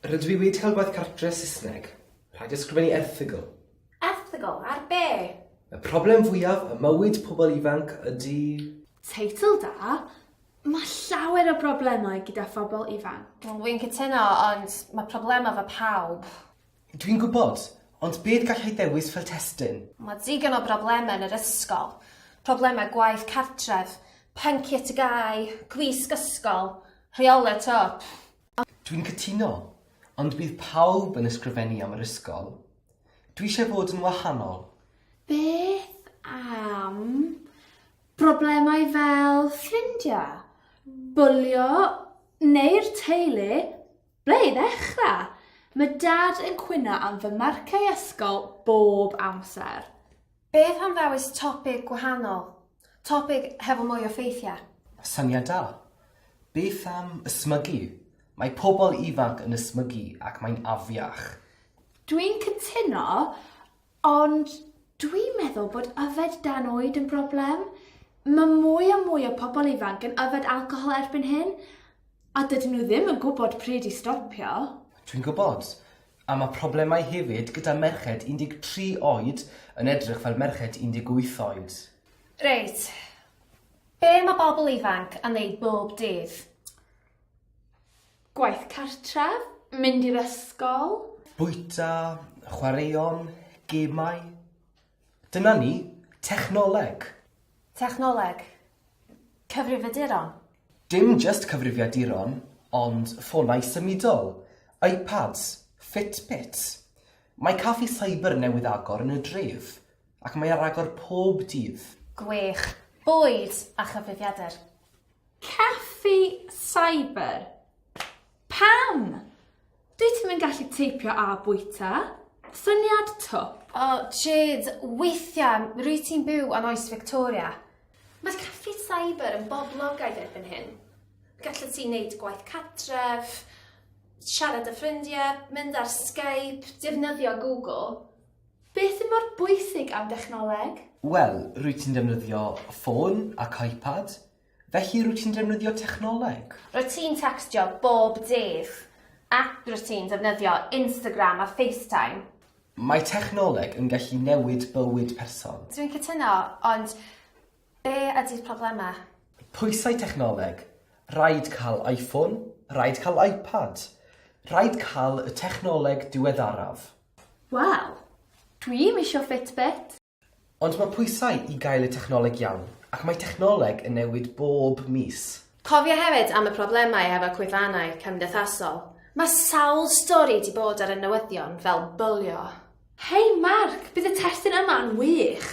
Rydw i wedi cael gwaith cartre Saesneg. Rhaid ysgrifennu erthygl. Erthygl? Ar be? Y problem fwyaf ym mywyd pobl ifanc ydy... Teitl da! Mae llawer o broblemau gyda phobl ifanc. Wi'n cytuno, ond mae problemau 'fo pawb. Dwi'n gwybod, ond beth gallai ddewis fel testun? Mae digon o broblemau yn yr ysgol. Problemau gwaith cartref, pynciau TGAU, gwisg ysgol, rheolau tŷ, pff. Dwi'n cytuno, ond bydd pawb yn ysgrifennu am yr ysgol. Dwi eisiau bod yn wahanol. Beth am Problemau fel ffrindiau, bwlio neu'r teulu, ble i ddechrau? Mae Dad yn cwyno am fy marciau ysgol bob amser. Beth am ddewis topig gwahanol? Topig hefo mwy o ffeithiau? Syniad da! Beth am ysmygu? Mae pobl ifanc yn ysmygu ac mae'n afiach. Dwi'n cytuno! Ond dwi'n meddwl bod yfed dan oed yn broblem. Mae mwy a mwy o pobl ifanc yn yfed alcohol erbyn hyn, a dydyn nhw ddim yn gwybod pryd i stopio. Dwi'n gwybod. A mae problemau hefyd gyda merched 13 oed yn edrych fel merched 18 oed. Reit. Be mae bobl ifanc yn wneud bob dydd? Gwaith cartref, mynd i'r ysgol. Bwyta, chwaraeon, gemau. Dyna ni, technoleg. Technoleg. Cyfrifiaduron. Dim jyst cyfrifiaduron, ond ffonau symudol, iPads, Fitbits. Mae caffi cyber newydd agor yn y dref, ac mae ar agor pob dydd. Gwych. Bwyd a chyfrifiadur. Caffi cyber. Pam? Dwyt ti'm yn gallu teipio a bwyta? Syniad twp. O, Jade, weithiau, rwy ti'n byw yn oes Victoria. Mae caffi cyber yn boblogaidd erbyn hyn. Gallet ti wneud gwaith catref, siarad â ffrindiau, mynd ar Skype, defnyddio Google. Beth mor bwysig am dechnoleg? Wel, rwyt ti'n defnyddio ffôn ac iPad, felly rwyt ti'n defnyddio technoleg. Rwyt ti'n tecstio bob dydd, ac rwyt ti'n defnyddio Instagram a FaceTime. Mae technoleg yn gallu newid bywyd person. Dwi'n cytuno, ond be ydy'r problemau? Pwysau technoleg, rhaid cael iPhone, rhaid cael iPad, rhaid cael y technoleg diweddaraf. Wel, dwi i'm isio Fitbit! Ond mae pwysau i gael y technoleg iawn, ac mae technoleg yn newid bob mis. Cofia hefyd am y problemau hefo cwefannau cymdeithasol. Mae sawl stori 'di bod ar y newyddion fel bwlio. Hei Mark, bydd y testun yma yn wych!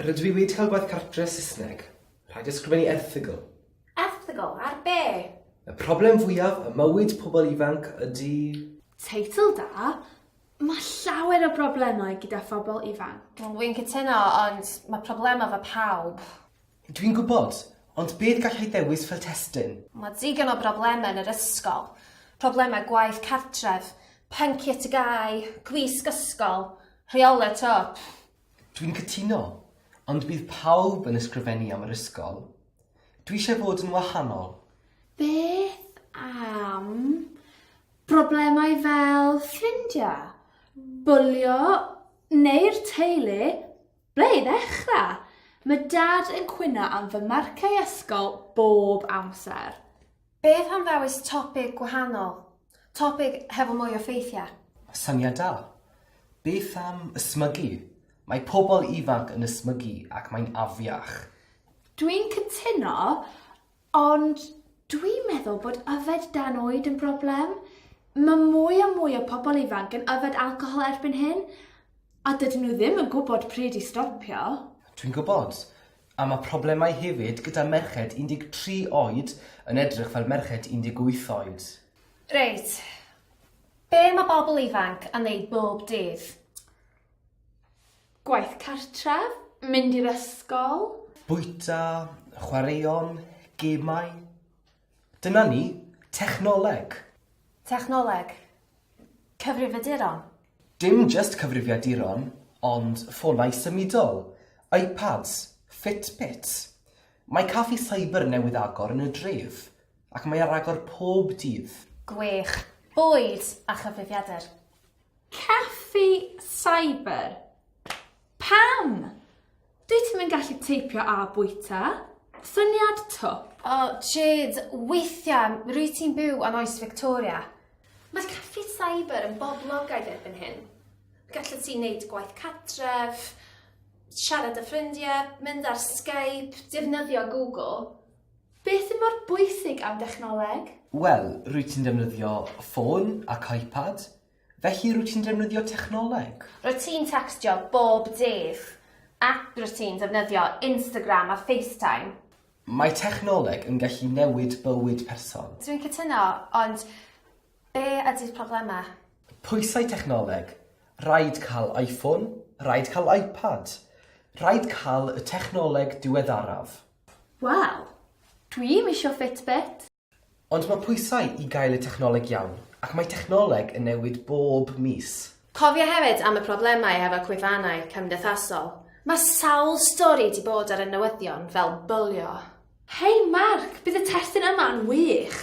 Rydw i wedi cael gwaith cartre Saesneg. Rhaid ysgrifennu erthygl. Erthygl ar be? Y problem fwyaf ym mywyd pobl ifanc ydy... Teitl da! Mae llawer o broblemau gyda phobl ifanc. Dwi'n cytuno, ond mae problemau 'fo pawb. Dwi'n gwybod, ond beth gallai ddewis fel testun? Mae digon o broblemau yn yr ysgol, problemau gwaith cartref, pynciau TGAU, gwisg ysgol, rheolau tŷ, pff! Dwi'n cytuno, ond bydd pawb yn ysgrifennu am yr ysgol. Dwi eisiau bod yn wahanol. Beth am broblemau fel ffrindiau, bwlio neu'r teulu? Ble i ddechrau? Mae dad yn cwyno am fy marciau ysgol bob amser. Beth am ddewis topig gwahanol? Topig hefo mwy o ffeithiau? Syniad da. Beth am ysmygu? Mae pobl ifanc yn ysmygu ac mae'n afiach. Dwi'n cytuno. Ond dwi'n meddwl bod yfed dan oed yn broblem. Mae mwy a mwy o pobl ifanc yn yfed alcohol erbyn hyn, a dydyn nhw ddim yn gwybod pryd i stopio. Dwi'n gwybod. A mae problemau hefyd gyda merched 13 oed yn edrych fel merched 18 oed. Reit. Be mae bobl ifanc yn wneud bob dydd? Gwaith cartref, mynd i'r ysgol. Bwyta, chwaraeon, gemau. Dyna ni, technoleg. Technoleg. Cyfrifiaduron. Dim jyst cyfrifiaduron, ond ffonau symudol, iPads, Fitbits. Mae caffi cyber newydd agor yn y dref, ac mae ar agor pob dydd. Gwych. Bwyd a chyfrifiadur. Caffi cyber. Pam? Dwyt ti'm yn gallu teipio a bwyta? Syniad twp. O, Jade, weithiau rwyt ti'n byw yn oes Victoria. Mae caffi cyber yn boblogaidd erbyn hyn. Gallet ti wneud gwaith cartref, siarad â ffrindiau, mynd ar Skype, defnyddio Google, Beth mor bwysig am dechnoleg? Wel, rwyt ti'n defnyddio ffôn ac iPad, felly rwyt ti'n defnyddio technoleg. Rwyt ti'n tecstio bob dydd, ac rwyt ti'n defnyddio Instagram a FaceTime. Mae technoleg yn gallu newid bywyd person. Dwi'n cytuno, ond be ydy'r problemau? Pwysau technoleg, rhaid cael iPhone, rhaid cael iPad, rhaid cael y technoleg diweddaraf. Wel, dwi ddim isio Fitbit! Ond mae pwysau i gael y technoleg iawn, ac mae technoleg yn newid bob mis. Cofia hefyd am y problemau hefo cwefannau cymdeithasol. Mae sawl stori 'di bod ar y newyddion fel bwlio. Hei Mark, bydd y testun yma yn wych!